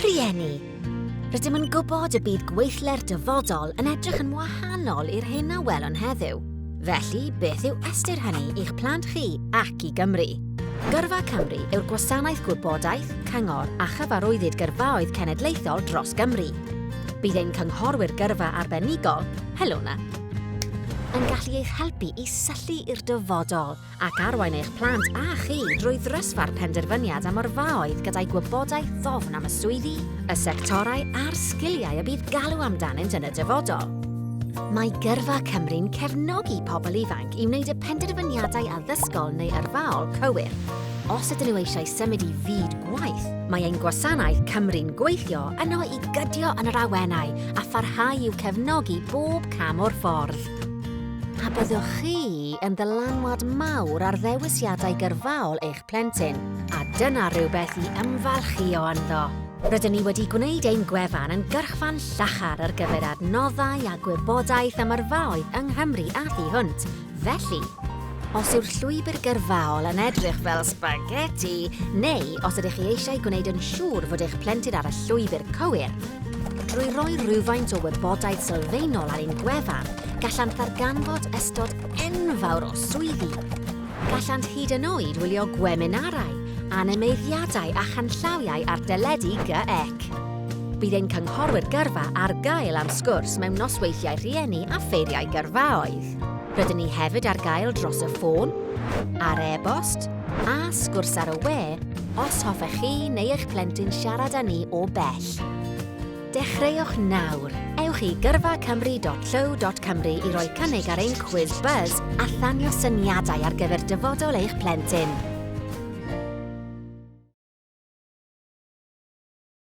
Rhieni, Rydym yn gwybod y bydd gweithle'r dyfodol yn edrych yn wahanol i'r hyn a welwn heddiw. Felly, beth yw ystyr hynny i'ch plant chi ac i Gymru? Gyrfa Cymru yw'r gwasanaeth gwybodaeth, cyngor a chyfarwyddyd gyrfaoedd cenedlaethol dros Gymru. Bydd ein cynghorwyr gyrfa arbenigol, Helona, yn gallu eich helpu i syllu i'r dyfodol ac arwain eich plant a chi drwy ddrysfa'r penderfyniad am yrfaoedd gyda'i gwybodaeth ddofn am y swyddi, y sectorau a'r sgiliau y bydd galw amdanynt yn y dyfodol. Mae Gyrfa Cymru'n cefnogi pobl ifanc i wneud y penderfyniadau addysgol neu yrfaol cywir. Os ydyn nhw eisiau symud i fyd gwaith, mae ein gwasanaeth Cymru'n gweithio yno i gydio yn yr awenau a pharhau i'w cefnogi bob cam o'r ffordd. A byddwch chi yn ddylanwad mawr ar ddewisiadau gyrfaol eich plentyn, a dyna rhywbeth i ymfalchïo ynddo. Rydyn ni wedi gwneud ein gwefan yn gyrchfan llachar ar gyfer adnoddau a gwybodaeth am yrfaoedd yng Nghymru a thu hwnt, felly, os yw'r llwybr gyrfaol yn edrych fel sbageti, neu os ydych chi eisiau gwneud yn siŵr fod eich plentyn ar y llwybr cywir, Drwy roi rhywfaint o wybodaeth sylfaenol ar ein gwefan, gallant ddarganfod ystod enfawr o swyddi. Gallant hyd yn oed wylio gweminarau, animeiddiadau a chanllawiau ar deledu GEC. Bydd ein cynghorwyr gyrfa ar gael am sgwrs mewn nosweithiau rhieni a ffeiriau gyrfaoedd. Rydyn ni hefyd ar gael dros y ffôn, ar e-bost, a sgwrs ar y we os hoffech chi neu eich plentyn siarad â ni o bell. Dechreuwch nawr! Ewch i gyrfacymru.llyw.cymru i roi cynnig ar ein cwiz buzz a thanio syniadau ar gyfer dyfodol eich plentyn.